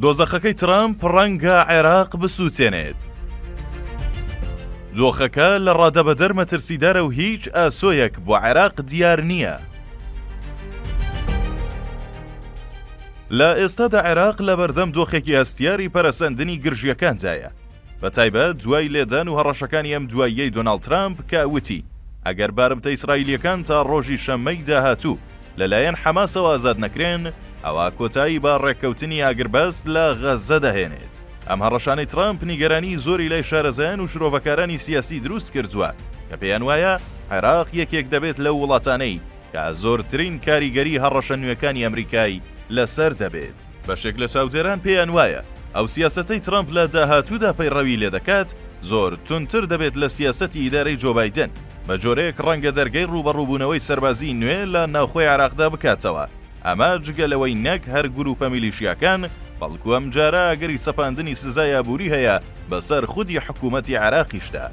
دۆزەخەکەی ترەمپ ڕەنگە عێراق بسووتێنێت. دۆخەکە لە ڕادەبەدەر مەترسیدارە و هیچ ئاسۆیەک بۆ عێراق دیار نییە. لە ئێستادا عێراق لە بەردەم دۆخێکی هەستیاری پەرەسەندنی گرژییەکاندایە، بەتایبەت دوای لێدان و هەڕەشەکانی ئەم دواییەی دۆناڵد ترەمپ کە وتی ئەگەر بارمتە ئیسرائیلییەکان تا ڕۆژی شەممەی داهاتوو لەلایەن حەماسەوە ئازاد نەکرێن، ئەوا کۆتایی بە ڕێککەوتنی ئاگربەست لە غەززە دەهێنێت. ئەم هەڕەشانەی ترامپ نیگەرانیی زۆری لای شارەزایان و شرۆڤەکارانی سیاسی دروست کردووە کە پێیان وایە عێراق یەکێک دەبێت لەو وڵاتانەی کە زۆرترین کاریگەریی هەڕەشە نوێکانی ئەمریکای لەسەر دەبێت. بەشێک لە چاودێران پێیان وایە ئەو سیاسەتەی ترەمپ لە داهاتوودا پەیڕەوی لێدەکات زۆر توندتر دەبێت لە سیاسەتی ئیدارەی جۆ بایدن، بە جۆرێک ڕەنگە دەرگەی ڕووبەڕووبوونەوەی سەربازیی نوێ لە ناوخۆی عێراقدا بکاتەوە، ئەمە جگە لەوەی نەک هەر گرووپە میلیشیاکان، بەڵکو ئەمجارە ئەگەری سەپاندنی سزای ئابووری هەیە بەسەر خودی حکوومەتی عێراقیشدا.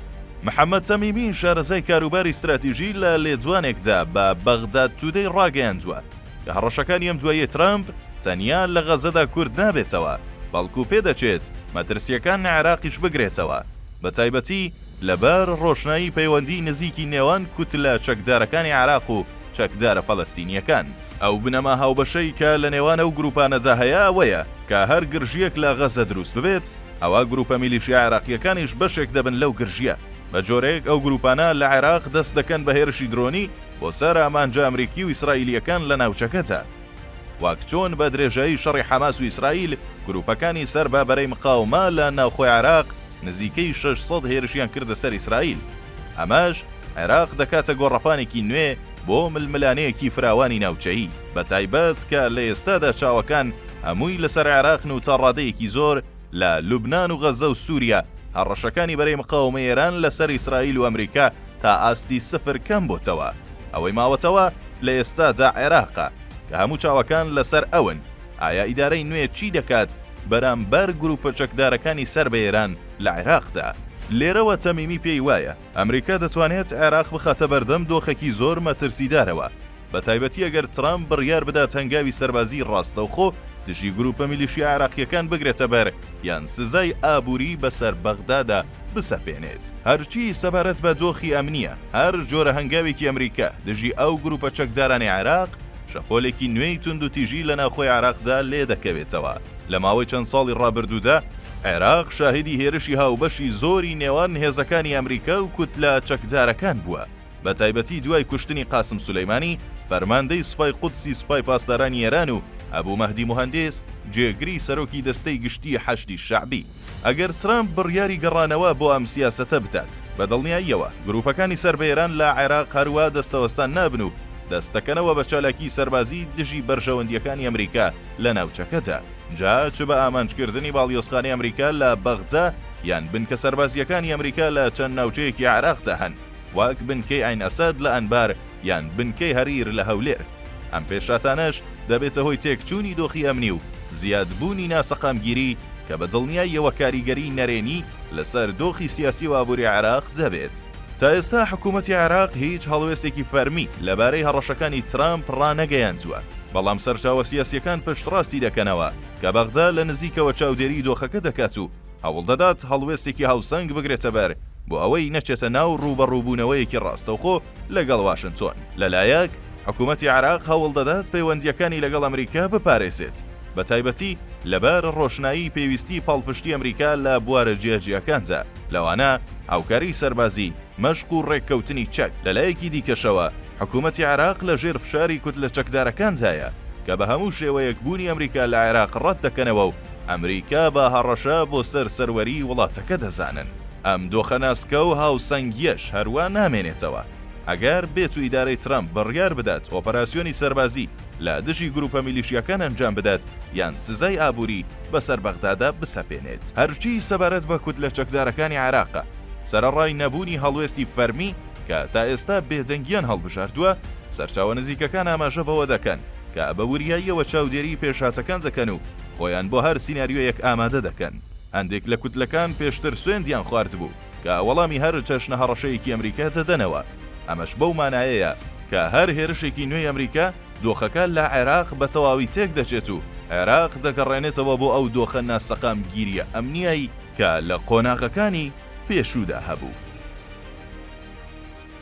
محەممەد تەمیمی، شارەزای کاروباری ستراتیژی لە لێدوانێکدا بە بەغداد تودەی ڕاگەیاندووە، لە هەڕەشەکانی ئەم دواییەی ترەمپ تەنیا لە غەزەدا کورت نابێتەوە، بەڵکو پێدەچێت مەترسییەکان لە عێراقیش بگرێتەوە، بەتایبەتی لەبەر ڕۆشنایی پەیوەندیی نزیکی نێوان کوتلە چەکدارەکانی عێراق و چەکدارە فەلەستینییەکان. ئەو بنەما هاوبەشەی کە لە نێوان ئەو گرووپانەدا هەیە ئەوەیە کە هەر گرژییەک لە غەزە دروست ببێت، ئەوا گرووپە میلیشیا عێراقییەکانیش بەشێک دەبن لەو گرژییە، بە جۆرێک ئەو گرووپانە لە عێراق دەست دەکەن بە هێرشی درۆنی بۆ سەر ئامانجە ئەمریکی و ئیسرائیلییەکان لە ناوچەکەدا. وەک چۆن بە درێژایی شەڕی حەماس و ئیسرائیل، گرووپەکانی سەر بە بەرەی مقاومە لە ناوخۆی عێراق نزیکەی شەش سەد هێرشیان کردە سەر ئیسرائیل. ئەمەش عێراق دەکاتە گۆڕەپانێکی نوێ بۆ ململانێیەکی فراوانی ناوچەیی، بەتایبەت کە لە ئێستادا چاوەکان هەمووی لەسەر عێراقن و تا ڕادەیەکی زۆر، لە لوبنان و غەززە و سووریا، هەڕەشەکانی بەرەی مقاومەی ئێران لەسەر ئیسرائیل و ئەمریکا تا ئاستی سفر کەم بۆتەوە. ئەوەی ماوەتەوە لە ئێستادا عێراقە، کە هەموو چاوەکان لەسەر ئەون، ئایا ئیدارەی نوێ چی دەکات بەرامبەر گرووپە چەکدارەکانی سەر بە ئێران لە عێراقدا؟ لێرەوە تەمیمی پێی وایە، ئەمریکا دەتوانێت عێراق بخاتە بەردەم دۆخێکی زۆر مەترسیدارەوە، بەتایبەتی ئەگەر ترامپ بڕیار بدات هەنگاوی سەربازیی ڕاستەوخۆ دژی گرووپە میلیشیا عێراقییەکان بگرێتەبەر یان سزای ئابووری بەسەر بەغدادا بسەپێنێت. هەرچی سەبارەت بە دۆخی ئەمنییە، هەر جۆرە هەنگاوێکی ئەمریکا دژی ئەو گرووپە چەکدارانەی عێراق شەپۆلێکی نوێی توندوتیژی لە ناوخۆی عێراقدا لێدەکەوێتەوە، لە ماوەی چەند ساڵی ڕابردوودا، عێراق شاهیدی هێرشی هاوبەشی زۆری نێوان هێزەکانی ئەمریکا و کوتلە چەکدارەکان بووە، بە تایبەتی دوای کوشتنی قاسم سولەیمانی، فەرماندەی سوپای قودسی سوپای پاسدارانی ئێران و ئەبو مەهدی موهەندیس، جێگری سەرۆکی دەستەی گشتیی حەشدی شەعبی. ئەگەر ترامپ بڕیاری گەڕانەوە بۆ ئەم سیاسەتە بدات، بە دڵنیاییەوە گرووپەکانی سەر بە ئێران لە عێراق هەروا دەستەوەستان نابن و دەست دەکەنەوە بە چالاکیی سەربازی دژی بەرژەوەندییەکانی ئەمریکا لە ناوچەکەدا، جا چ بە ئامانجکردنی باڵیۆزخانەی ئەمریکا لە بەغدا یان بنکە سەربازییەکانی ئەمریکا لە چەند ناوچەیەکی عێراقدا هەن، وەک بنکەی عەین ئەسەد لە ئەنبار یان بنکەی هەریر لە هەولێر. ئەم پێشهاتانەش دەبێتە هۆی تێکچوونی دۆخی ئەمنی و زیادبوونی ناسەقامگیری کە بە دڵنیاییەوە کاریگەریی نەرێنی لەسەر دۆخی سیاسی و ئابووری عێراق دەبێت. تا ئێستا حکوومەتی عێراق هیچ هەڵوێستێکی فەرمی لەبارەی هەڕەشەکانی ترامپ ڕانەگەیاندووە، بەڵام سەرچاوە سیاسییەکان پشتڕاستی دەکەنەوە کە بەغدا لە نزیکەوە چاودێریی دۆخەکە دەکات و هەوڵدەدات هەڵوێستێکی هاوسەنگ بگرێتەبەر بۆ ئەوەی نەچێتە ناو ڕووبەڕووبوونەوەیەکی ڕاستەوخۆ لەگەڵ واشنتۆن. لەلایەک حکومەتی عێراق هەوڵدەدات پەیوەندییەکانی لەگەڵ ئەمریکا بپارێزێت، بەتایبەتی لەبار ڕۆشنایی پێویستی پاڵپشتی ئەمریکا لە بوارە جیاجیاکاندا، لەوانە هاوکاری سەربازی، مەشق و ڕێککەوتنی چەک. لەلایەکی دیکەشەوە حکومەتی عێراق لەژێر فشاری کوتلە چەکدارەکاندایە، کە بە هەموو شێوەیەک بوونی ئەمریکا لە عێراق ڕەتدەکەنەوە و ئەمریکا بە هەڕەشە بۆ سەر سەروەریی وڵاتەکە دەزانن. ئەم دۆخە ناسکە و هاوسەنگییەش هەروا نامێنێتەوە. ئەگەر بێتو ئیدارەی ترەمپ بڕیار بدات ئۆپەراسیۆنی سەربازی لە دژی گروپە میلیشیاکان ئەنجام بدات یان سزای ئابووری بەسەر بەغدادا بسەپێنێت. هەرچی سەبارەت بە کوتلە چەکدارەکانی عێراقە، سەرەڕای نەبوونی هەڵوێستی فەرمی کە تا ئێستا بێدەنگییان هەڵبژاردووە، سەرچاوە نزیکەکان ئاماژە بەوە دەکەن کە بە وریاییەوە چاودێریی پێشهاتەکان دەکەن و خۆیان بۆ هەر سیناریۆیەک ئامادە دەکەن. هەندێک لە کوتلەکان پێشتر سوێندیان خواردبوو کە وەڵامی هەر چەشنە هەڕەشەیەکی ئەمریکا دەدەنەوە، ئەمەش بەو مانایەیە کە هەر هێرشێکی نوێی ئەمریکا دۆخەکە لە عێراق بە تەواوی تێکدەچێت و عێراق دەگەڕێنێتەوە بۆ ئەو دۆخە ناسەقامگیرییە ئەمنییەی کە لە قۆناغەکانی پێشوودا هەبوو.